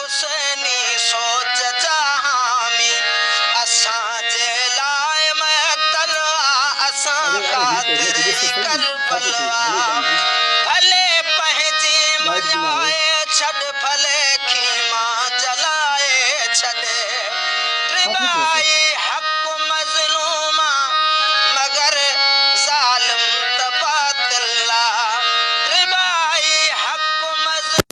حسيني سوچ جا حامي اسان جي لاء معطل آ اسان خاطر ئي ڪربل آ ڀلي پنهنجي مڃائي ڇڏ ڀلي خيما جلائي ڇڏ ڊٻائي حق مظلوم آ مگر ظالم ته باطل آ ڊٻائي حق مظلوم.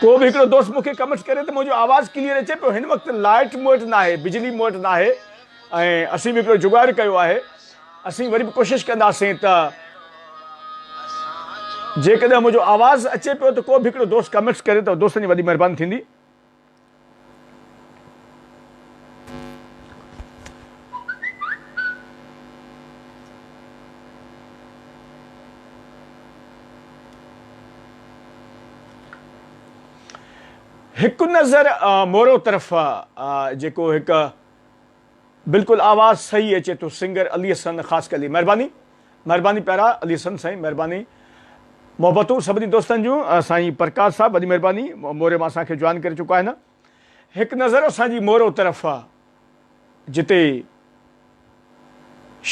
ڪو به هڪڙو دوست مون کي ڪمنٽس ڪري ته منهنجو آواز ڪليئر اچي پيو هن وقت لائٽ مون وٽ ناهي بجلي مون وٽ ناهي ۽ اسين به هڪڙو جگاڙ ڪيو آهي اسين وري به ڪوشش ڪنداسين ته جيڪڏهن منهنجو آواز اچي پيو ته ڪو به هڪڙو دوست ڪمنٽس ڪري ته دوستن جي وڏي مهرباني ٿيندي هڪ نظر مورو طرف جيڪو هڪ بلڪل آواز صحيح اچي ٿو سنگر علي حسن خاصخيلي مھرباني مھرباني پيارا علي حسن سائين مھرباني محبتون سڀني دوستن جون سائين پرڪاش صاحب وڏي مھرباني موري مان اسان کي جوائن ڪري چڪو آھي نه هڪ نظر اسان جي مورو طرف جتي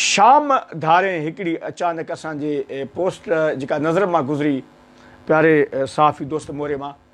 شام ڌارين هڪڙي اچانڪ اسان جي پوسٽ جيڪا نظر مان گذري پياري صحافي دوست موري مان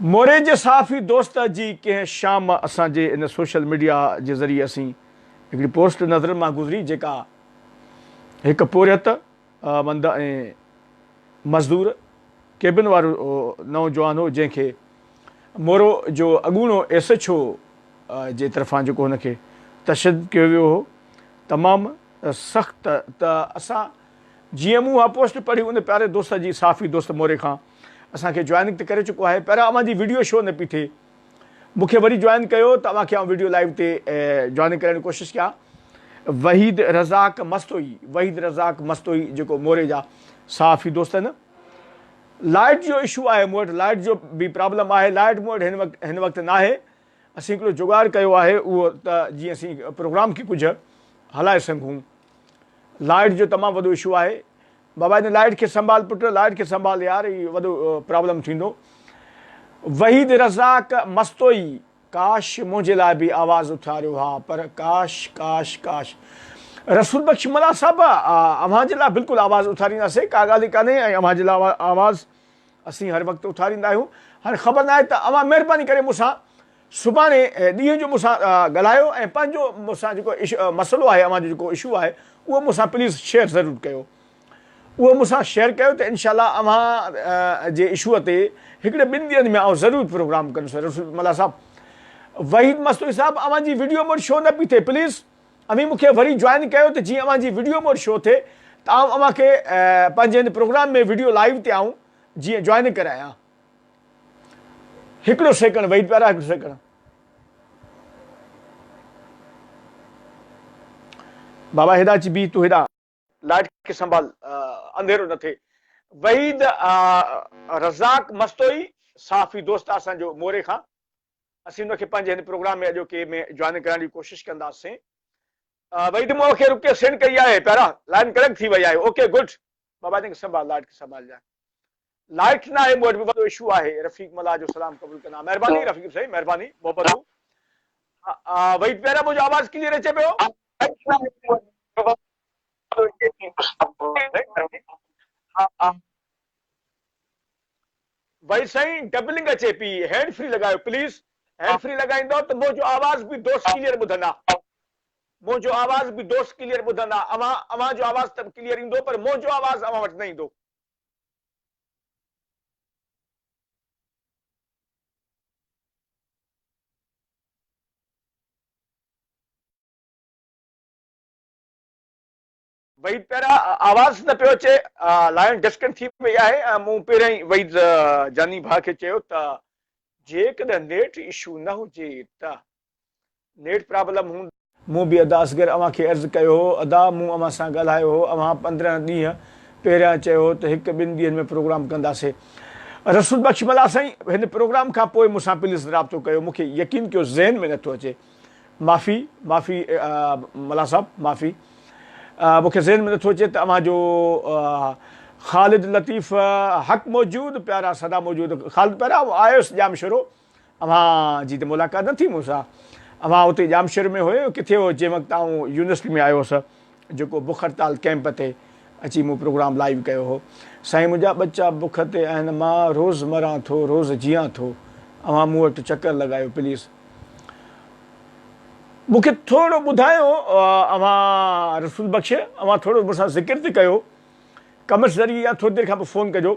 موري جي صحافي دوست جي ڪنهن شام اسان جي ان سوشل ميڊيا جي ذريعي اسين هڪڙي پوسٽ نظرن مان گذري جيڪا هڪ پورهيت مند ۽ مزدور ڪيبن وارو نوجوان هو جنهن کي مورو جو اڳوڻو ايس ايڇ او جي طرفان جيڪو هن کي تشدد ڪيو ويو هو تمام سخت ته اسان جيئن مون اها پوسٽ پڙهي ان پياري دوست جي صحافي دوست موري کان اسان کي جوائننگ ته ڪري چڪو آهي پيارا اوهان جي ويڊيو شو نه پي ٿئي مون کي وري جوائن ڪيو ته اوهان کي آئون ويڊيو لائيو تي جوائننگ ڪرائڻ جي ڪوشش ڪيان وحيد رزاق مستوئي وحيد رزاق مستوئي جيڪو موري جا صحافي دوست آهن لائٽ جو اشو آهي مون وٽ لائٽ جو به پرابلم آهي لائٽ مون وٽ هن وقت هن وقت ناهي اسين هڪڙو جوڳاڙ ڪيو آهي اهو ته جيئن اسين پروگرام کي ڪجهه هلائي سگهون. لائٽ جو تمام وڏو اشو آهي. بابا هن لائٽ کي سنڀال پٽ لائٽ کي سنڀال يار هي وڏو پرابلم ٿيندو. وحيد رزاق مستوئي ڪاش منهنجي لاء به آواز اٿاريو ها پر ڪاش ڪاش ڪاش رسول بخش ملاح صاحب اوهان جي لاء بلڪل آواز اٿارينداسين ڪا ڳالهه ئي ڪانهي ۽ اوهان جي لاء آواز اسين هر وقت اٿاريندا آهيون هاڻي خبر ناهي ته اوهان مهرباني ڪري مون سان سڀاڻي ڏينهن جو مون سان ڳالهايو ۽ پنهنجو مون سان جيڪو مسئلو آهي اوهان جو جيڪو اشو آهي اهو مون سان پليز شيئر ضرور ڪيو اهو مون سان شيئر ڪيو ته انشاء الله اوهان جي اشو تي هڪڙي ٻن ڏينهن ۾ آئون ضرور پروگرام ڪندس رسول ملا صاحب وحيد مستوئي صاحب اوهان جي ويڊيو مون وٽ شو نه پي ٿئي پليز اوهين مون کي وري جوائن ڪيو ته جيئن اوهان جي وڊيو مور شو ٿئي ته آئون اوهان کي پنهنجي هن پروگرام ۾ وڊيو لائيو تي آئون جيئن جوائن ڪرايان هڪڙو سيڪنڊ ويٽ پيارا هڪڙو سيڪنڊ بابا هيڏا اچي بيهه تون هيڏا لائٽ کي سنڀال انڌيرو نه ٿئي. وحيد رزاق مستوئي صحافي دوست آهي اسان جو موري کان اسين ان کي پنهنجي هن پروگرام ۾ اڄوڪي ۾ جوائن ڪرائڻ جي ڪوشش ڪنداسين وحيد مون کي رڪي سينڊ ڪئي آهي پيارا لائن ڪنيڪٽ ٿي وئي آهي اوڪي گڊ بابا جن کي سنڀال لائٽ کي سنڀالجان لائٽ ناهي مون وٽ به وڏو اشو آهي رفيق ملاح جو سلام قبول ڪندا مهرباني رفيق سائين مهرباني محبتون ويٽ پيارا منهنجو آواز ڪليئر اچي پيو ويٽ سائين ڊبلنگ اچي پي هينڊ فري لڳايو پليز هينڊ فري لڳائيندو ته منهنجو آواز به دوست ڪليئر ٻڌندا منهنجو آواز به دوست ڪليئر ٻڌندا اوهان اوهان جو آواز ته ڪليئر ايندو پر منهنجو آواز اوهان وٽ نه ايندو وحيد پيارا آواز نه پيو اچي لائن ڊسڪن ٿي وئي آهي مون پهريان ئي وحيد جاني ڀاء کي چيو ته جيڪڏهن نيٽ اشو نه هجي ته نيٽ پرابلم هوند. مون به ادا اصغر اوهان کي عرض ڪيو هو ادا مون اوهان سان ڳالهايو هو اوهان پندرهن ڏينهن پهريان چيو هو ته هڪ ٻن ڏينهن ۾ پروگرام ڪنداسي رسول بخش ملاح سائين هن پروگرام کان پوء مون سان پليز رابطو ڪيو مون کي يقين ڪيو ذهن ۾ نٿو اچي معافي معافي ملاح صاحب معافي مون کي ذهن ۾ نٿو اچي ته اوهان جو خالد لطيف حق موجود پيارا سدا موجود خالد پيارا آيس ڄام شروع اوهان جي ته ملاقات نه ٿي مون سان. اوهان اتي ڄامشوري ۾ هيو يا ڪٿي هيو جنهن وقت آئون يونيورسٽي ۾ آيو هوس جيڪو بک هڙتال ڪئمپ تي اچي مون پروگرام لائيو ڪيو هو. سائين منهنجا ٻچا بک تي آهن مان روز مران ٿو روز جيئان ٿو اوهان مون وٽ چڪر لڳايو پليز مون کي ٿورڙو ٻڌايو اوهان رسول بخش اوهان ٿورڙو مون سان ذڪر ته ڪيو ڪمينٽس ذريعي يا ٿوري دير کان پوء فون ڪجو.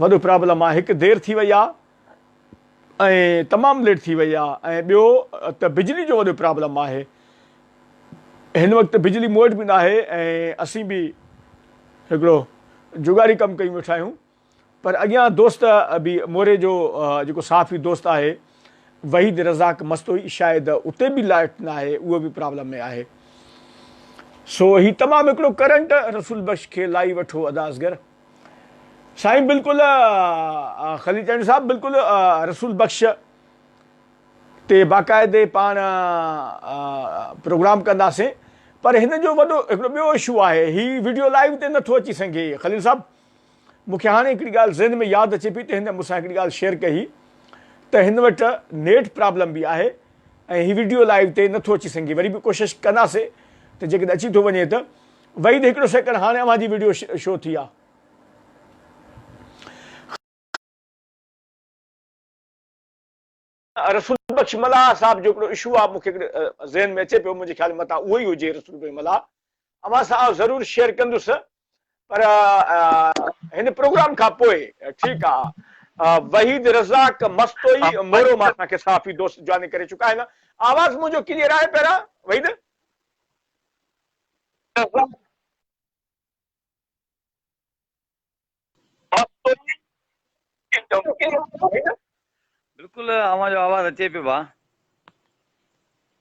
وڏو پرابلم آ هڪ دير ٿي وئي آ ۽ تمام ليٽ ٿي وئي آ ۽ ٻيو ته بجلي جو وڏو پرابلم آهي هن وقت بجلي مون وٽ به ناهي ۽ اسين به هڪڙو جگاڙي ڪم ڪيون ويٺا آهيون پر اڳيان دوست به موري جو جيڪو صحافي دوست آهي وحيد رزاق مستوئي شايد اتي به لائٽ ناهي اهو به پرابلم ۾ آهي سو هي تمام هڪڙو ڪرنٽ رسول بخش کي لائي وٺو ادا اصغر سائين بلڪل خليل چانڊيو صاحب بلڪل رسول بخش تي باقاعدي پاڻ پروگرام ڪنداسين پر هن جو وڏو هڪڙو ٻيو اشو آهي هي ويڊيو لائيو تي نٿو اچي سگهي خليل صاحب مون کي هاڻي هڪڙي ڳالهه ذهن ۾ ياد اچي پئي ته هن مون سان هڪڙي ڳالهه شيئر ڪئي هئي ته هن وٽ نيٽ پرابلم به آهي ۽ هي وڊيو لائيو تي نه ٿو اچي سگهي وري به ڪوشش ڪنداسي ته جيڪڏهن اچي ٿو وڃي ته وحيد هڪڙو سيڪنڊ هاڻي اوهان جي وڊيو شو ٿي آ. رسول بخش ملاح صاحب جو هڪڙو اشو آ مونکي هڪڙو ذهن ۾ اچي پيو منهنجي خيال ۾ متان اهوئي هجي رسول بخش ملاح اوهان سان آئون ضرور شيئر ڪندس پر هن پروگرام کان پوء ٺيڪ آ وحيد رزاق مستوئي مورو مان اسان کي صحافي دوست جوائن ڪري چڪا آهن آواز منهنجو ڪليئر آهي پهريان وحيد بلڪل اوهان جو آواز اچي پيو ڀا.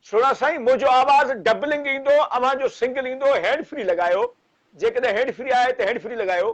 سھڻا سائين منهنجو آواز ڊبلنگ ايندو اوهان جو سنگل ايندو هيڊ فري لڳايو جيڪڏهن هيڊ فري آهي ته هيڊ فري لڳايو.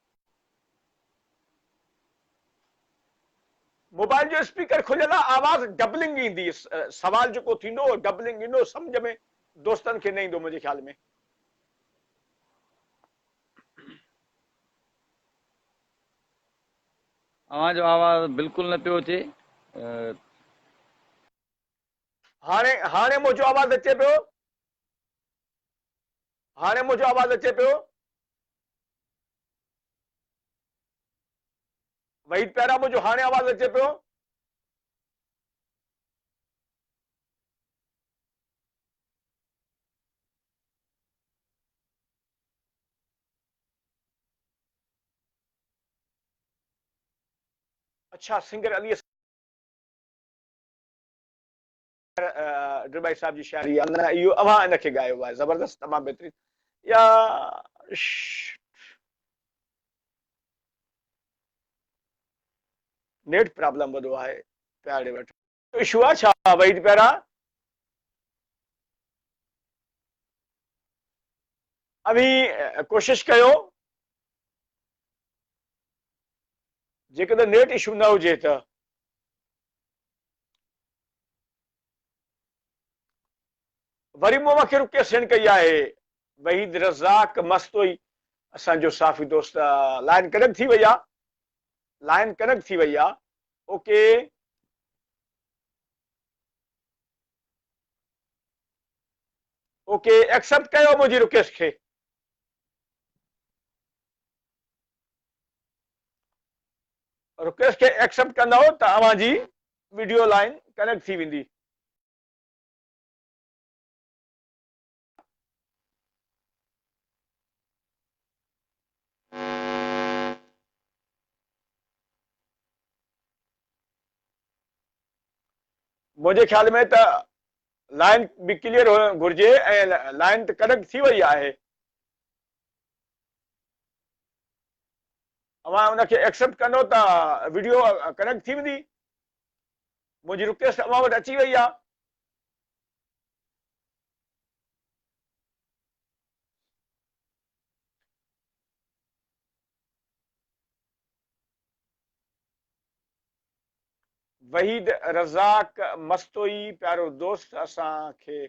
موبائل جو اسپيڪر کليل آ آواز ڊبلنگ ايندي سوال جيڪو ٿيندو هو ڊبلنگ ايندو سمجھ ۾ دوستن کي نه ايندو منهنجي خيال ۾ اوهان جو آواز بلڪل نه پيو اچي هاڻي هاڻي منهنجو آواز اچي پيو هاڻي منهنجو آواز اچي پيو وحيد پيارا منهنجو هاڻي آواز اچي پيو. اڇا سنگر علي خير ڊرٻائي صاحب جي شاعري يا نه اهو اوهان ان کي ڳايو آهي زبردست تمام بهترين يا نيٽ پرابلم وڏو آهي پيارڙي وٽ اشو آ ڇا وحيد پيارا اوهين ڪوشش ڪيو جيڪڏهن نيٽ اشو نه هجي ته وري مون وکي رڪي سڻ ڪئي آهي. وحيد رزاق مستوئي اسان جو صحافي دوست لائن ڪنڪ ٿي وئي آ لائن ڪنڪ ٿي وئي آ اوڪي اوڪي ايڪسپٽ ڪيو منهنجي رڪيس کي رڪويسٽ کي ايڪسيپٽ ڪندؤ ته اوهان جي وڊيو لائين ڪنيڪٽ ٿي ويندي. منهنجي خيال ۾ ته لائين به ڪليئر هئڻ گهرجي ۽ لائين ته ڪنيڪٽ ٿي وئي آهي. اوهان ان کي ايڪسيپٽ ڪندو ته وڊيو ڪنيڪٽ ٿي ويندي منهنجي رڪويسٽ اوهان وٽ اچي وئي آهي وحيد رزاق مستوئي پيارو دوست اسان کي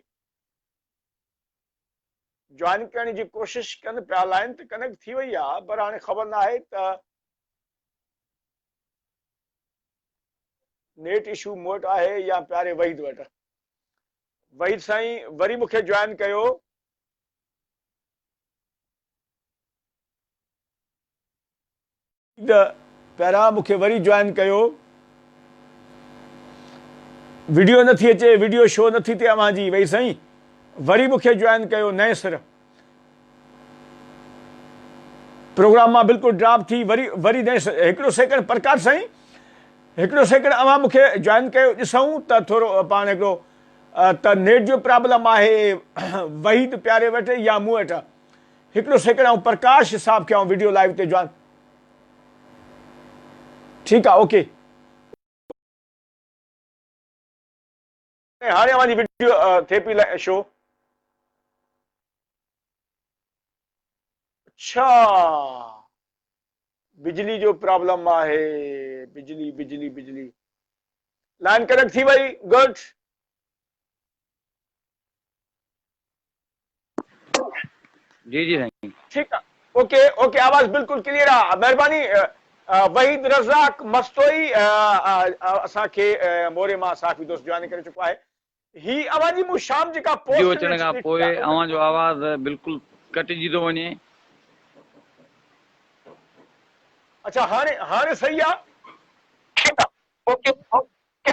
جوائن ڪرڻ جي ڪوشش ڪن پيا لائين ته ڪنيڪٽ ٿي وئي آهي پر هاڻي خبر نه آهي ته نيٽ اشو مون وٽ آهي يا پياري وحيد وٽ وحيد سائين وري مونکي جوائن ڪيو ته پهريان مون کي وري جوائن ڪيو. وڊيو نه ٿي اچي وڊيو شو نه ٿي تي اوهان جي وئي سائين وري مون کي جوائن ڪيو نئين سر پروگرام مان بلڪل ڊراپ ٿي وري وري نئين سر هڪڙو سيڪنڊ پرڪاش سائين هڪڙو سيڪنڊ اوهان مون کي جوائن ڪيو ڏسون ته ٿورو پاڻ هڪڙو ته نيٽ جو پرابلم آهي وحيد پياري وٽ يا مون وٽ هڪڙو سيڪنڊ آئون پرڪاش صاحب کي آئون وڊيو لائيو تي جوائن ٺيڪ آ اوڪي. هاڻي اوهان جي وڊيو ٿي پئي شو. اڇا بجلي جو پرابلم آهي بجلي بجلي بجلي لائن ڪنيڪٽ ٿي وئي گڊ. جي جي سائين. ٺيڪ آ اوڪي اوڪي آواز بلڪل ڪليئر آ مھرباني وحيد رزاق مستوئي اسان کي موري مان صحافي دوست جوائن ڪري چڪو آھي ھي اوھان جي مون شام جيڪا پوسٽ ويڊيو اچڻ کان پوء اوھان جو آواز بلڪل ڪٽجي ٿو وڃي. اڇا ھاڻي ھاڻي صحيح آ. ٺيڪ آ اوڪي اوڪي.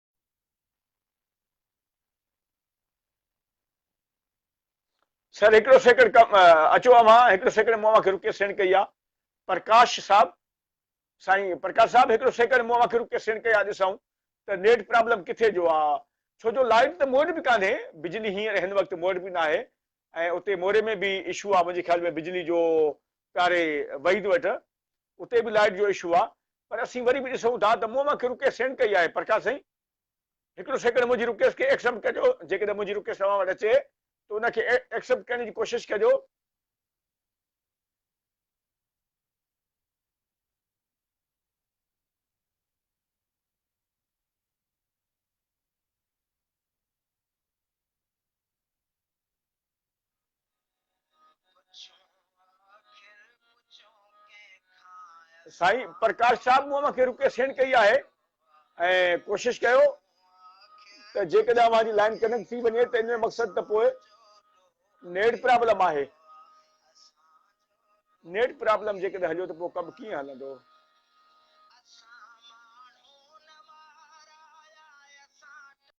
سر هڪڙو سيڪنڊ اچو اوهان هڪڙو سيڪنڊ مون اوهان کي رڪي سينڊ ڪئي آ پرڪاش صاحب سائين پرڪاش صاحب هڪڙو سيڪنڊ مون اوهان کي رڪي سينڊ ڪئي آ ڏسون ته نيٽ پرابلم ڪٿي جو آ ڇو جو لائٽ ته موٽ به ڪانهي بجلي هينئر هن وقت موٽ به ناهي ۽ اتي موري ۾ به اشو آ منهنجي خيال ۾ بجلي جو پياري وحيد وٽ اتي به لائٽ جو اشو آ پر اسين وري به ڏسون ٿا ته مون اوهان کي رڪويسٽ سينڊ ڪئي آهي پرڪاش سائين هڪڙو سيڪنڊ منهنجي رڪويسٽ کي ايڪسپٽ ڪجو جيڪڏهن منهنجي رڪويسٽ اوهان وٽ اچي ته ان کي ايڪسپٽ ڪرڻ جي ڪوشش ڪجو. سائين پرڪاش صاحب مون اوهان کي رڪي سينڊ ڪئي آهي ۽ ڪوشش ڪيو ته جيڪڏهن اوهان جي لائن ڪنيڪٽ ٿي وڃي ته ان جو مقصد ته پوء نيٽ پرابلم آهي نيٽ پرابلم جيڪڏهن هليو ته پوء ڪم ڪيئن هلندو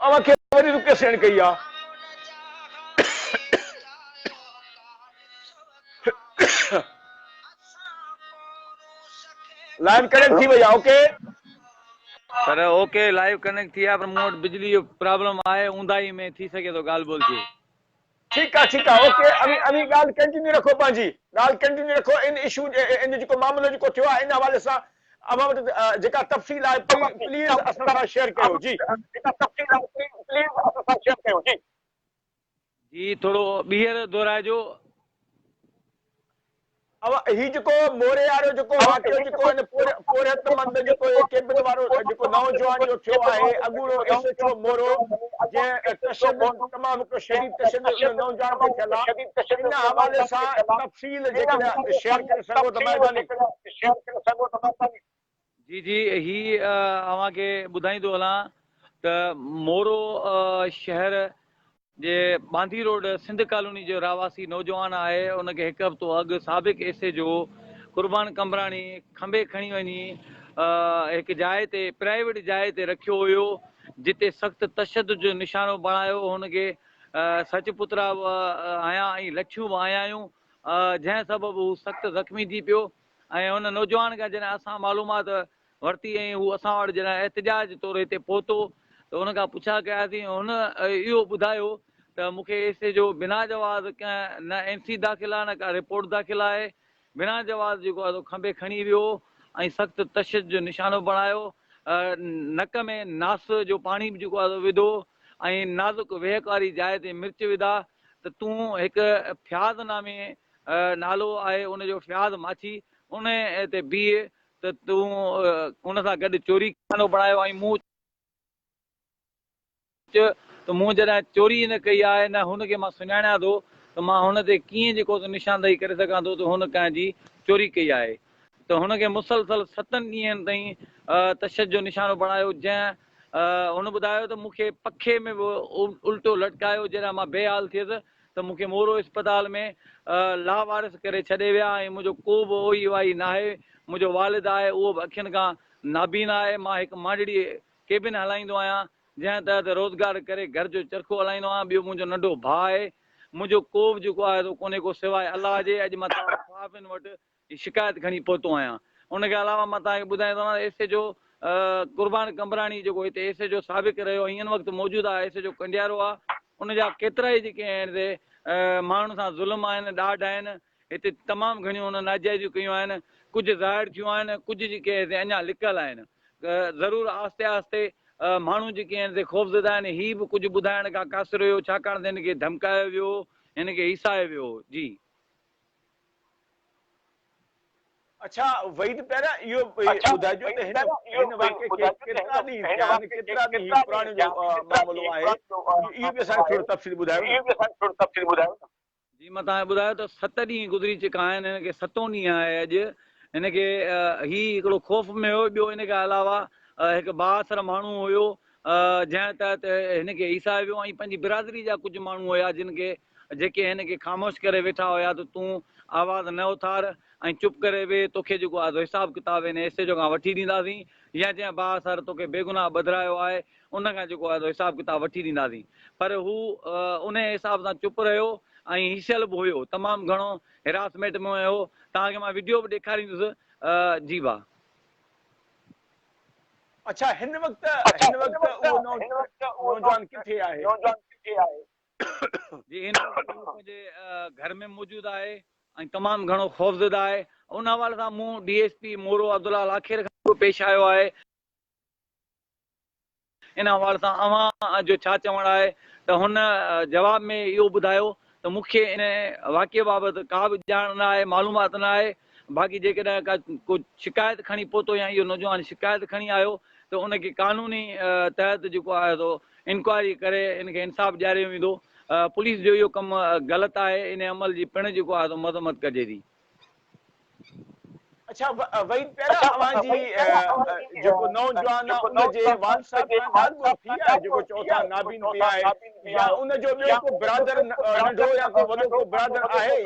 اوهان کي وڏي رڪي سهڻ ڪئي آ. لائن ڪنيڪٽ ٿي وئي آ okay. Sir okay live connect ٿي آ پر مون وٽ بجلي جو پرابلم آهي اونداهي ۾ ٿي سگهي ٿو ڳالهه ٻولهه ٿئي. ٺيڪ آ ٺيڪ آ اوڪي اوهين اوهين ڳالهه ڪنٽينيو رکو پنهنجي ڳالهه ڪنٽينيو رکو ان اشو ان جيڪو معاملو جيڪو ٿيو آهي ان حوالي سان اوهان وٽ جيڪا تفصيل آهي پلي پليز اسان سان شيئر ڪيو جي جيڪا تفصيل آهي پلي پليز اسان سان شيئر ڪيو جي جي ٿورو ٻيهر دهرائجو. اوهان هي جيڪو موري وارو جيڪو واقعو جيڪو هن پورهيت مند جيڪو هي ڪيبن وارو جيڪو نوجوان جو ٿيو آهي اڳوڻو ايس ايڇ او مورو جنهن تشدد تمام هڪڙو شديد تشدد ان نوجوان تي ٿيل آهي ان حوالي سان تفصيل جيڪڏهن شيئر ڪري سگهو ته مهرباني جي جي هي اوهان کي ٻڌائيندو هلان ته مورو شهر جي ٻانڌي روڊ سنڌ ڪالوني جو رهواسي نوجوان آهي ان کي هڪ هفتو اڳ سابق S H O Qurban Qambrani کنڀي کڻي وڃي هڪ جاء تي پرائيويٽ جاء تي رکيو هيو جتي سخت تشدد جو نشانو بڻايو هن کي سچ پترا آيا ۽ لٺيون به آيا آيون جنهن سبب هو سخت زخمي ٿي پيو ۽ ان نوجوان کان جڏهن اسان معلومات ورتي ۽ هو اسان وٽ جڏهن احتجاج طور هتي پهتو ته ان کان پڇا ڪياسين هن اهو ٻڌايو ته مون کي ايس ايڇ او بنا جواز ڪنهن نه اين سي داخل آهي نه ڪا رپورٽ داخل آهي بنا جواز جيڪو آهي سو کنڀي کڻي ويو ۽ سخت تشدد جو نشانو بڻايو نڪ ۾ ناس جو پاڻي به جيڪو آهي سو وڌو ۽ نازڪ ويهڪ واري جاء تي مرچ وڌا ته تون هڪ فياض نامي نالو آهي ان جو فياض ماڇي ان تي بيهه ته تون ان سان گڏ چوري خانو بڻايو ۽ مون چيو ته مون جڏهن چوري ئي نه ڪئي آهي نه هن کي مان سڃاڻيان ٿو ته مان هن تي ڪيئن جيڪو ته نشاندهي ڪري سگهان ٿو ته هن ڪنهن جي چوري ڪئي آهي ته هن کي مسلسل ستن ڏينهن تائين تشدد جو نشانو بڻايو جنهن هن ٻڌايو ته مون کي پکي ۾ به الٽو لٽڪايو جڏهن مان بي حال ٿيس ته مون کي مورو اسپتال ۾ لاوارث ڪري ڇڏي ويا ۽ منهنجو ڪو به اوهي واهي ناهي، منهنجو والد آهي اهو به اکين کان نابينا آهي، مان هڪ مانڊڙي ڪيبن هلائيندو آهيان جنهن تحت روزگار ڪري گهر جو چرخو هلائيندو آهيان، ٻيو منهنجو ننڍو ڀاء آهي، منهنجو ڪوبه جيڪو آهي سو ڪونهي ڪو سواء الله جي، اڄ مان توهان صحافين وٽ جي شڪايت کڻي پهتو آهيان ان کان علاوه مان توهان کي ٻڌائي ٿو وڃان S H O Qurban Qambrani جيڪو هتي ايس ايڇ او سابق رهيو ۽ هن وقت موجوده ايس ايڇ او ڪنڊيارو آهي ان جا ڪيترائي جيڪي آهن سي ماڻهن سان ظلم آهن ڏاڍ آهن هتي تمام گهڻيون هن ناجائزيون ڪيون آهن ڪجهه ظاهر ٿيون آهن ڪجهه جيڪي آهن سي اڃا لڪل آهن ضرور آهستي آهستي ماڻهو جيڪي آهن سي خوفزده آهن هي به ڪجهه ٻڌائڻ کان قاصر هيو ڇاڪاڻ ته هن کي ڌمڪايو ويو هو هن کي هيسايو ويو هو جي اڇا وحيد پيارا اهو ٻڌائجو ته هن هن واقعي کي ڪيترا ڏينهن ٿيا آهن ڪيترا ڏينهن هي پراڻي جو معاملو آهي اهو به اسان کي ٿورو تفصيل ٻڌايو نه جي مان توهان کي ٻڌايو ته ست ڏينهن گذري چڪا آهن هن کي ستون ڏينهن آهي اڄ هن کي هي هڪڙو خوف ۾ هو ٻيو ان کان علاوه هڪ بااثر ماڻهو هيو جنهن تحت هن کي هيسايو ويو ۽ پنهنجي برادري جا ڪجهه ماڻهو هيا جن کي جيڪي هن کي خاموش ڪري ويٺا هيا ته تون آواز نه اٿار ۽ چپ ڪري ويهه توکي جيڪو آدو حساب ڪتاب هن حصي جو کان وٺي ڏينداسين يا جنهن باهه سر توکي بيگناهه ٻڌرايو آهي ان کان جيڪو آدو حساب ڪتاب وٺي ڏينداسين پر هو انهيء حساب سان چپ رهيو ۽ هيشل به هيو تمام گهڻو هراسميٽ ۾ هيو توهان کي مان وڊيو به ڏيکاريندس جي ڀا. اڇا هن وقت هن وقت اهو نوجوان ڪٿي آهي. جي هي نوٽ ضرور پنهنجي گهر ۾ موجود آهي ۽ تمام گهڻو خوفزده آهي ان حوالي سان مون D S P Moro Abdullah Lakhir کان به پيش آيو آهي ان حوالي سان اوهان جو ڇا چوڻ آهي ته هن جواب ۾ اهو ٻڌايو ته مون کي ان واقعي بابت ڪا به ڄاڻ نه آهي معلومات نه آهي باقي جيڪڏهن ڪا ڪو شڪايت کڻي پهتو يا اهو نوجوان شڪايت کڻي آيو ته ان کي قانوني تحت جيڪو آهي سو انڪوائري ڪري ان کي انصاف ڏياريو ويندو، پوليس جو اهو ڪم غلط آهي، انهي عمل جي پڻ جيڪو آهي سو مذمت ڪجي ٿي. اڇا وحيد پيارا اوهان جي جيڪو نوجوان آهي ان جي والد صاحب کان ڳالهه ٻولهه ٿي آهي جيڪو چئو ٿا نابين به آهي يا ان جو ٻيو ڪو برادر ننڍڙو يا ڪو وڏو ڪو برادر آهي؟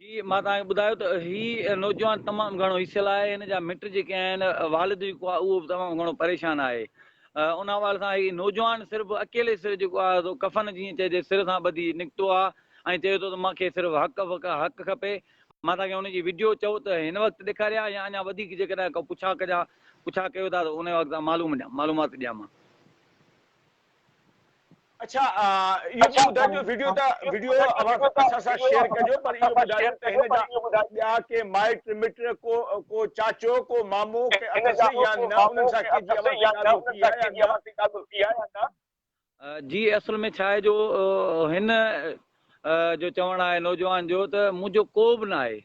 جي مان توهان کي ٻڌايو ته هي نوجوان تمام گهڻو هيسيل آهي هن جا مٽ جيڪي آهن والد جيڪو آهي اهو به تمام گهڻو پريشان آهي ان حوالي سان هي نوجوان صرف اڪيلي سر جيڪو آهي سو ڪفن جيئن چئجي سر سان ٻڌي نڪتو آهي ۽ چئي ٿو ته مان کي صرف حق وق حق کپي مان توهان کي ان جي وڊيو چئو ته هن وقت ڏيکاريا يا اڃا وڌيڪ جيڪڏهن ڪو پڇا ڪجا پڇا ڪيو ٿا ته ان وقت معلوم ڏيان معلومات ڏيان مان اڇا اهو به ٻڌائجو وڊيو ته وڊيو اوهان اسان سان شيئر ڪجو پر اهو ٻڌايو ته هن جا ٻيا ڪي مائٽ مٽ ڪو ڪو چاچو ڪو مامو ڪي اٿس يا نه انهن سان ڪي جي اوهان کي ڳالهه ٿي آهي يا نه جي اصل ۾ ڇا آهي جو هن جو چوڻ آهي نوجوان جو ته منهنجو ڪو به ناهي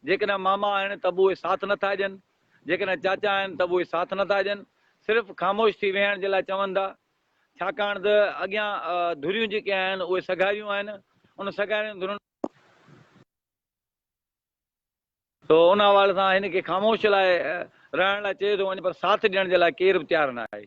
جيڪڏهن ماما آهن ته به اهي ساٿ نه ٿا ڏين، جيڪڏهن چاچا آهن ته به اهي ساٿ نه ٿا ڏين، صرف خاموش ٿي ويهڻ جي لاء چون ٿا، ڇاڪاڻ ته اڳيان ڌريون جيڪي آهن اهي سگهاريون آهن، ان سگهارين ڌرين. سو ان حوالي سان هن کي خاموش لاء رهڻ لاء چئي ٿو وڃي پر ساٿ ڏيڻ جي لاء ڪير به تيار نه آهي.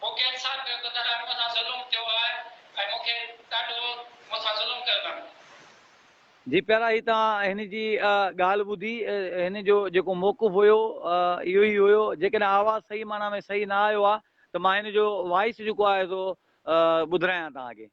مون کي انصاف ڪيو ته دلاڻ مون سان ظلم ٿيو آهي ۽ مون کي ڏاڍو مون سان ظلم ڪيو اٿن. جي پيارا هي توهان هن جي ڳالهه ٻڌي هن جو جيڪو موقف هيو اهو ئي هيو جيڪڏهن آواز صحيح معنيٰ ۾ صحيح نه آيو آهي ته مان هن جو وائيس جيڪو آهي سو ٻڌرايان توهان کي.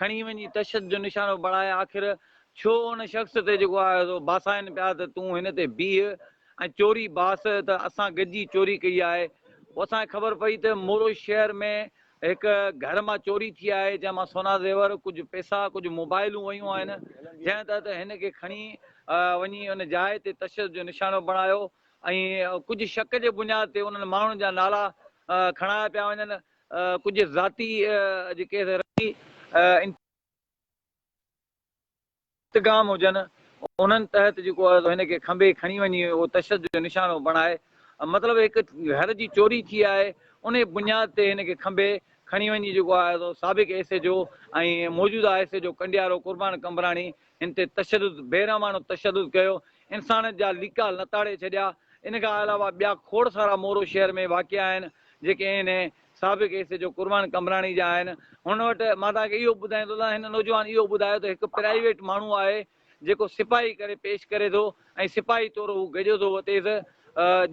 کڻي وڃي تشدد جو نشانو بڻائي آخر ڇو ان شخص تي جيڪو آهي سو باسائين پيا ته تون هن تي بيهه ۽ چوري باس ته اسان گڏجي چوري ڪئي آهي پوء اسان کي خبر پئي ته مورو شهر ۾ هڪ گهر مان چوري ٿي آهي جنهن مان سونا زيور ڪجهه پئسا ڪجهه موبائلون ويون آهن جنهن تحت هن کي کڻي وڃي ان جاء تي تشدد جو نشانو بڻايو ۽ ڪجهه شڪ جي بنياد تي انهن ماڻهن جا نالا کڻايا پيا وڃن ڪجهه ذاتي جيڪي رسمي انتظام هجن انهن تحت جيڪو آهي سو هن کي کنڀي کڻي وڃي اهو تشدد جو نشانو بڻائي مطلب هڪ گهر جي چوري ٿي آهي انهي بنياد تي هن کي کنڀي کڻي وڃي جيڪو آهي سو سابق ايس ايڇ او ۽ موجوده S H O Kandiaro Qurban Qambrani هن تي تشدد بيرحماڻو تشدد ڪيو انسانيت جا ليڪا لتاڙي ڇڏيا ان کان علاوه ٻيا کوڙ سارا مورو شهر ۾ واقع آهن جيڪي انهي سابق S H O Qurban Qambrani جا آهن هن وٽ مان توهان کي اهو ٻڌائين ٿو ته هن نوجوان اهو ٻڌايو ته هڪ پرائيويٽ ماڻهو آهي جيڪو سپاهي ڪري پيش ڪري ٿو ۽ سپاهي طور هو گجو ٿو وتيس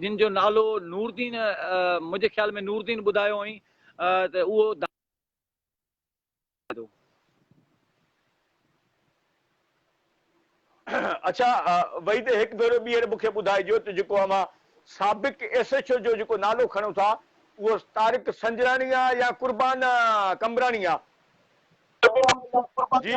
جن جو نالو نوردين منهنجي خيال ۾ نوردين ٻڌايو هئين ته اهو ٿو. اڇا وحيد هڪ ڀيرو ٻيهر مون کي ٻڌائجو ته جيڪو اوهان سابق ايس ايڇ او جو جيڪو نالو کڻو ٿا اهو طارق سنجراڻي آ يا قربان قمبراڻي آ؟ جي.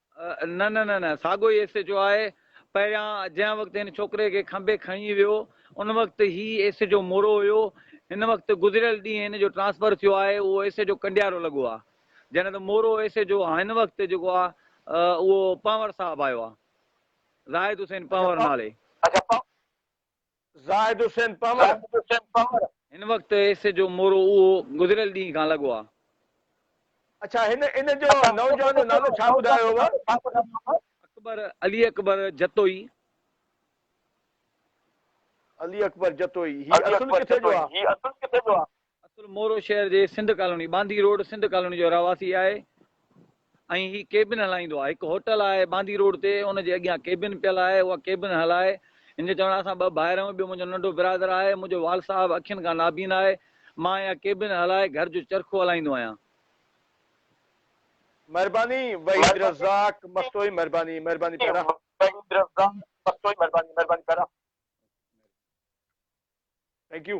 نه نه نه نه ساڳو ئي ايس ايچ او آهي پهريان جنهن وقت هن ڇوڪري کي کنڀي کڻي ويو ان وقت هي ايس ايچ او مورو هيو هن وقت گذريل ڏينهن هن جو ٽرانسفر ٿيو آهي اهو ايس ايچ او ڪنڊيارو لڳو آهي جڏهن ته مورو ايس ايچ او هن وقت جيڪو آهي اهو پنور صاحب آيو آهي زاهد حسين پنور نالي اڇا زاهد حسين پنور، هن وقت ايس ايڇ او مورو اهو گذريل ڏينهن کان لڳو آ. اڇا هن ان جو نوجوان جو نالو ڇا ٻڌايو هئو؟ اڪبر، علي اڪبر جتوئي. علي اڪبر جتوئي، هي اصل ڪٿي جو آ؟ اصل مورو شهر جي Sindh colony, Bandhi road, Sindh colony جو رهواسي آهي ۽ هي ڪيبن هلائيندو آهي. هڪ هوٽل آهي باندي روڊ تي، ان جي اڳيان ڪيبن پيل آهي، اها ڪيبن هلائي. هن جو چوڻ آهي اسان ٻه ڀائر آهيون، ٻيو منهنجو ننڍو برادر آهي، منهنجو وال صاحب اکين کان نابين آهي، مان اها ڪيبن هلائي گهر جو چرخو هلائيندو آهيان. مھرباني وحيد رزاق مستوئي مھرباني مھرباني پيارا. وحيد رزاق مستوئي مھرباني مھرباني پيارا. ٿينڪ يو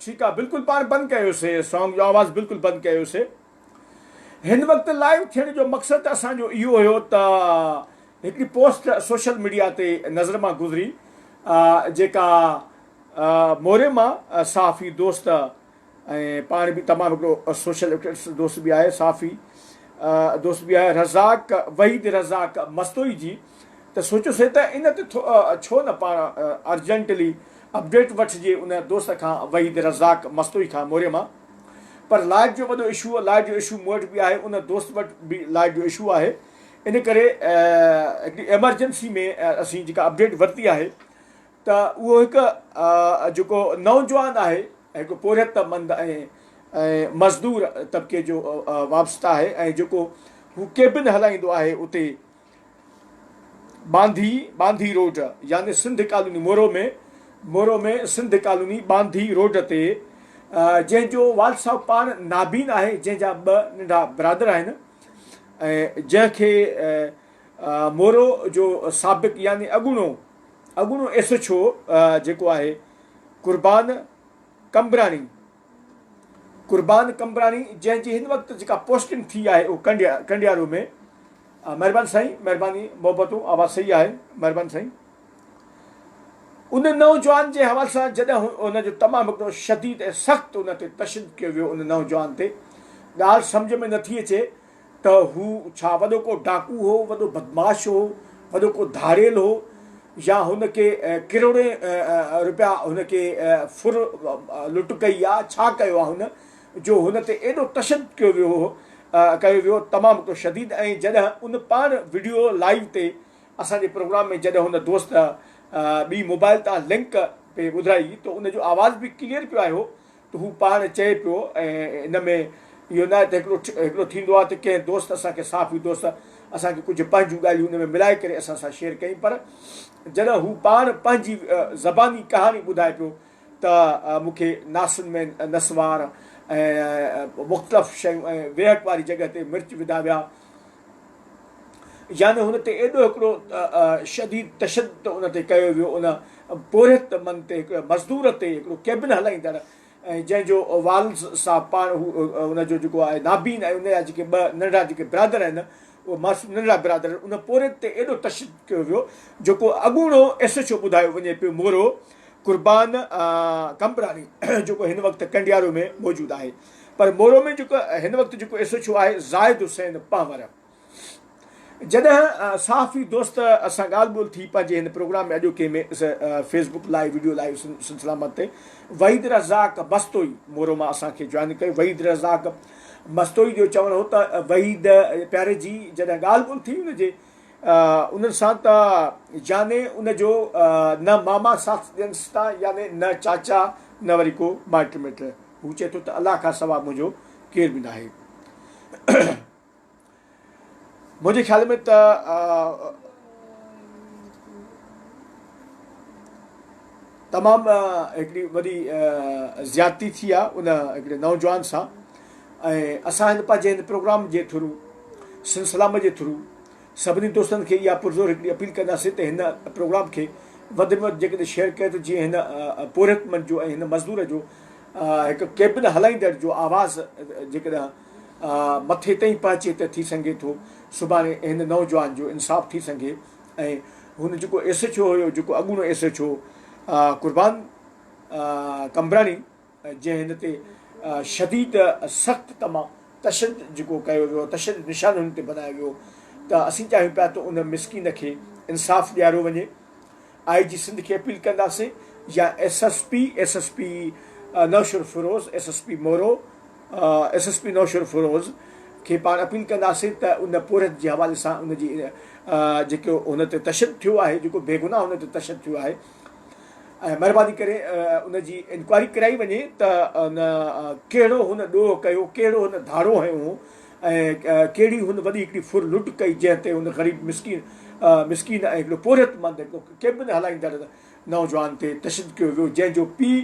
ٺيڪ آ بلڪل پاڻ بند ڪيو سي سانگ جو آواز بلڪل بند ڪيو سي ھن وقت لائيو ٿيڻ جو مقصد اسان جو اھو ھيو ته ھڪڙي پوسٽ سوشل ميڊيا تي نظر مان گذري جيڪا موري مان صحافي دوست ۽ پاڻ به تمام ھڪڙو سوشل ايڪٽس دوست به آھي صحافي دوست به آھي رزاق وحيد رزاق مستوئي جي ته سوچيوسين ته ان تي ڇو نه پاڻ ارجنٽلي اپڊيٽ وٺجي ان دوست کان وحيد رزاق مستوئي کان موري مان پر لائيٽ جو وڏو اشو لائيٽ جو اشو مون وٽ به آهي ان دوست وٽ به لائيٽ جو اشو آهي ان ڪري هڪڙي ايمرجنسي ۾ اسين جيڪا اپڊيٽ ورتي آهي ته اهو هڪ جيڪو نوجوان آهي هڪ پورهيت مند ۽ مزدور طبقي جو وابسته آهي ۽ جيڪو هو ڪيبن هلائيندو آهي اتي ٻانڌي، ٻانڌي روڊ، يعني Sindh colony Moro ۾، Moro ۾ Sindh colony Bandhi road تي، جنهن جو والد صاحب پاڻ نابين آهي، جنهن جا ٻه ننڍا برادر آهن ۽ جنهن کي مورو جو سابق يعني اڳوڻو اڳوڻو ايس ايڇ او جيڪو آهي قربان قمبراڻي، قربان قمبراڻي جنهن جي هن وقت جيڪا پوسٽنگ ٿي آهي اهو ڪنڊيا ڪنڊيارو ۾ مهرباني سائين مهرباني محبتون آواز صحيح آهي مهرباني سائين ان نوجوان جي حوالي سان جڏهن ان جو تمام هڪڙو شديد ۽ سخت ان تي تشدد ڪيو ويو ان نوجوان تي ڳالهه سمجهه ۾ نٿي اچي ته هو ڇا وڏو ڪو ڊاڪو هو، وڏو بدمعاش هو، وڏو ڪو ڌاڙيل هو يا هن کي ڪروڙين روپيا هن کي ڦر لٽ ڪئي آ، ڇا ڪيو آ هن جو هن تي ايڏو تشدد ڪيو ويو هو ڪيو ويو تمام هڪڙو شديد ۽ جڏهن ان پاڻ وڊيو لائيو تي اسان جي پروگرام ۾ جڏهن هن دوست ٻي موبائل تان لنڪ پي ٻڌرائي ته ان جو آواز به ڪليئر پيو آيو هو ته هو پاڻ چئي پيو ۽ ان ۾ اهو ناهي ته هڪڙو هڪڙو ٿيندو آهي ته ڪنهن دوست اسان کي صحافي دوست اسان کي ڪجهه پنهنجون ڳالهيون ان ۾ ملائي ڪري اسان سان شيئر ڪيائين پر جڏهن هو پاڻ پنهنجي زباني ڪهاڻي ٻڌائي پيو ته مون کي ناسن ۾ نسوار ۽ مختلف شيون ۽ ويهڪ واري جڳهه تي مرچ وڌا ويا يعني هن تي ايڏو هڪڙو شديد تشدد ان تي ڪيو ويو ان پورهيت من تي هڪڙي مزدور تي هڪڙو ڪيبن هلائيندڙ جنهن جو والز صاحب پاڻ هو ان جو جيڪو آهي نابين ۽ ان جا جيڪي ٻه ننڍا جيڪي برادر آهن اهي معصوم ننڍا برادر آهن ان پورهيت تي ايڏو تشدد ڪيو ويو جيڪو اڳوڻو ايس ايڇ او ٻڌايو وڃي پيو مورو قربان قمبراڻي جيڪو هن وقت ڪنڊيارو ۾ موجود آهي پر مورو ۾ جيڪو هن وقت جيڪو ايس ايڇ او آهي زاهد حسين پنهور جڏهن صحافي دوست سان ڳالهه ٻولهه ٿي پنهنجي هن پروگرام ۾ اڄوڪي ۾ Facebook live video live سلسله مت تي وحيد رزاق بستوئي مورو مان اسان کي جوائن ڪيو وحيد رزاق بستوئي جو چوڻ هو ته وحيد پياري جي جڏهن ڳالهه ٻولهه ٿي ان جي انهن سان ته ياني ان جو نه ماما ساٿ ڏينس ٿا ياني نه چاچا نه وري ڪو مائٽ مٽ هو چئي ٿو ته الله کان سوا منهنجو ڪير به ناهي. منهنجي خيال ۾ ته تمام هڪڙي وڏي زيادتي ٿي آهي ان هڪڙي نوجوان سان ۽ اسان هن پنهنجي هن پروگرام جي ٿرو سن سلام جي ٿرو سڀني دوستن کي اها پرزور هڪڙي اپيل ڪنداسين ته هن پروگرام کي وڌ ۾ وڌ جيڪڏهن شيئر ڪري ته جيئن هن پورهيت مند جو ۽ هن مزدور جو هڪ ڪيبن هلائيندڙ جو آواز جيڪڏهن مٿي تائين پهچي ته ٿي سگهي ٿو سڀاڻي هن نوجوان جو انصاف ٿي سگهي ۽ هن جيڪو ايس ايڇ او هيو جيڪو اڳوڻو S H O Qurban Qambrani جنهن هن تي شديد سخت تمام تشدد جيڪو ڪيو ويو تشدد نشان هن تي بنايو ويو ته اسين چاهيون پيا ته ان مسڪين کي انصاف ڏياريو وڃي آء جي سنڌ کي اپيل ڪنداسين يا S S P S S P Naushahro Feroze S S P Moro S S P Naushahro Feroze کي پاڻ اپيل ڪنداسين ته ان پورهيت جي حوالي سان ان جي جيڪو هن تي تشدد ٿيو آهي جيڪو بيگناهه هن تي تشدد ٿيو آهي ۽ مهرباني ڪري ان جي انڪوائري ڪرائي وڃي ته ان ڪهڙو هن ڏوهه ڪيو ڪهڙو هن ڌاڙو هنيو هو ۽ ڪهڙي هن وڏي هڪڙي ڦر لٽ ڪئي جنهن تي هن غريب مسڪين مسڪين ۽ هڪڙو پورهيت مند هڪڙو ڪيبن هلائيندڙ نوجوان تي تشدد ڪيو ويو جنهن جو پيء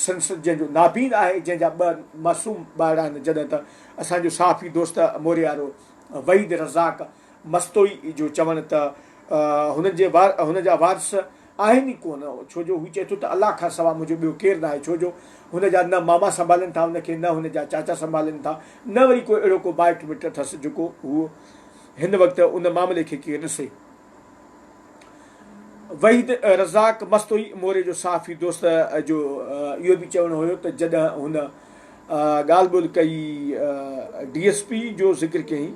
سنس جنهن جو نابين آهي جنهن جا ٻه معصوم ٻارڙا آهن جڏهن ته اسان جو صحافي دوست موريارو وحيد رزاق مستوئي جو چوڻ ته هن جي هن جا وارث آهن ئي ڪو نه ڇو جو هو چئي ٿو ته الله کان سوا منهنجو ٻيو ڪير ناهي ڇو جو هن جا نه ماما سنڀالين ٿا هن کي نه هن جا چاچا سنڀالين ٿا نه وري ڪو اهڙو ڪو مائٽ مٽ اٿس جيڪو هو هن وقت ان معاملي کي ڪير ڏسي. وحيد رزاق مستوئي موري جو صحافي دوست جو اهو به چوڻ هيو ته جڏهن هن ڳالهه ٻولهه ڪئي ڊي ايس پي جو ذڪر ڪيائين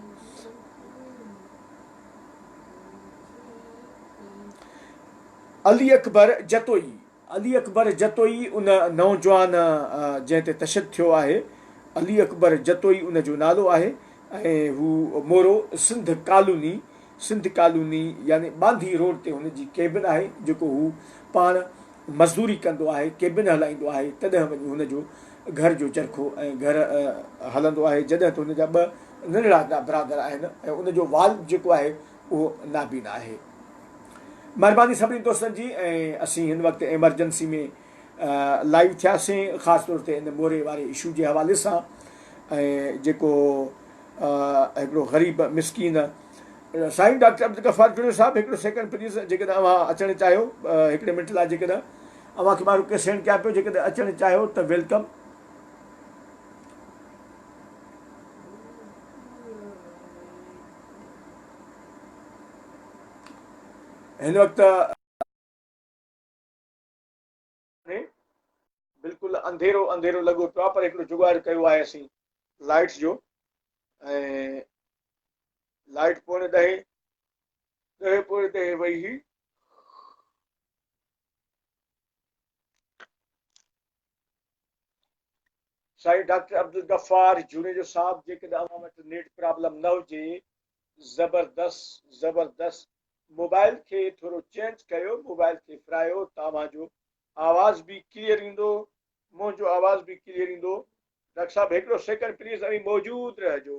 علي اڪبر جتوئي، علي اڪبر جتوئي ان نوجوان جنهن تي تشدد ٿيو آهي، علي اڪبر جتوئي ان جو نالو آهي ۽ هو مورو سنڌ ڪالوني، سنڌ ڪالوني يعني ٻانڌي روڊ تي هن جي ڪيبن آهي جيڪو هو پاڻ مزدوري ڪندو آهي، ڪيبن هلائيندو آهي، تڏهن وڃي هن جو گهر جو چرخو ۽ گهر هلندو آهي، جڏهن ته هن جا ٻه ننڍڙا برادر آهن ۽ ان جو والد جيڪو آهي اهو نابينا آهي. مهرباني سڀني دوستن جي ۽ اسين هن وقت ايمرجنسي ۾ لائيو ٿياسين خاص طور تي ان موري واري اشو جي حوالي سان ۽ جيڪو هڪڙو غريب مسڪين سائين ڊاڪٽر عبدالغفار جوڻيو صاحب هڪڙو سيڪنڊ پليز جيڪڏهن اوهان اچڻ چاهيو هڪڙي منٽ لاء جيڪڏهن اوهان کي مان رڪويسٽ سينڊ ڪيان پيو جيڪڏهن اچڻ چاهيو ته ويلڪم. هن وقت. ۾ بلڪل انڌيرو انڌيرو لڳو پيو آهي پر هڪڙو جگاڙ ڪيو آهي اسين لائٽس جو ۽ لائٽ پوڻي ڏهي ڏهي پوڻي ڏهي وئي هي سائين ڊاڪٽر عبدالغفار جوڻيجو صاحب جيڪڏهن اوهان وٽ نيٽ پرابلم نه هجي زبردس زبردس موبائل کي ٿورو چينج ڪيو موبائل کي ڦرايو تاوهان جو آواز به ڪليئر ايندو منهنجو آواز به ڪليئر ايندو ڊاڪٽر صاحب هڪڙو سيڪنڊ پليز اوهين موجود رهجو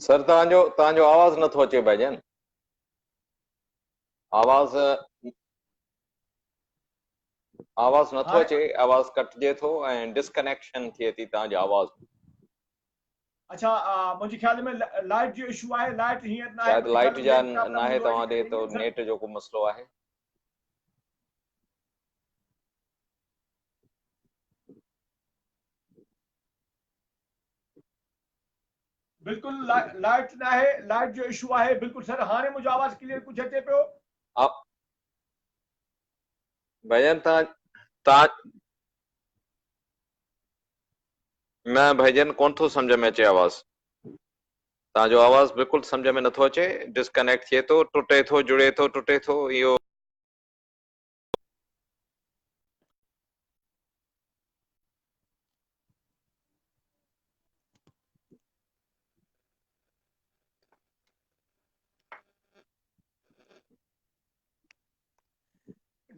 سر توهان جو توهان جو آواز نٿو اچي بھاء جان آواز آواز نٿو اچي آواز ڪٽجي ٿو ۽ ڊسڪنيڪشن ٿئي ٿي توهان جي آواز اچھا منهنجي خيال ۾ لائٽ جو اشو آهي لائٽ هيئن نه شايد لائٽ جا نه آهي توهان ڏي تو نيٽ جو ڪو مسئلو آهي بلڪل لائٽ ناهي لائٽ جو اشو آهي بلڪل سر هاڻي منهنجو آواز ڪليئر ڪجهه اچي پيو ڀجن تان تان نه ڀجن ڪون ٿو سمجھ ۾ اچي آواز تان جو آواز بلڪل سمجھ ۾ نٿو اچي ڊسڪنيڪٽ ٿئي ٿو ٽٽي ٿو جڙي ٿو ٽٽي ٿو اهو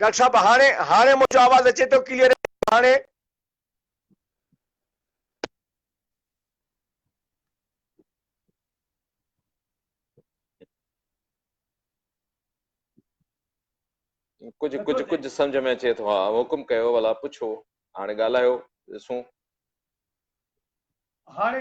ڊاڪٽر صاحب هاڻي هاڻي منهنجو آواز اچي ٿو ڪليئر هاڻي. ڪجهه ڪجهه ڪجهه سمجھ ۾ اچي ٿو ها حڪم ڪيو ولا پڇو هاڻي ڳالهايو ڏسون هاڻي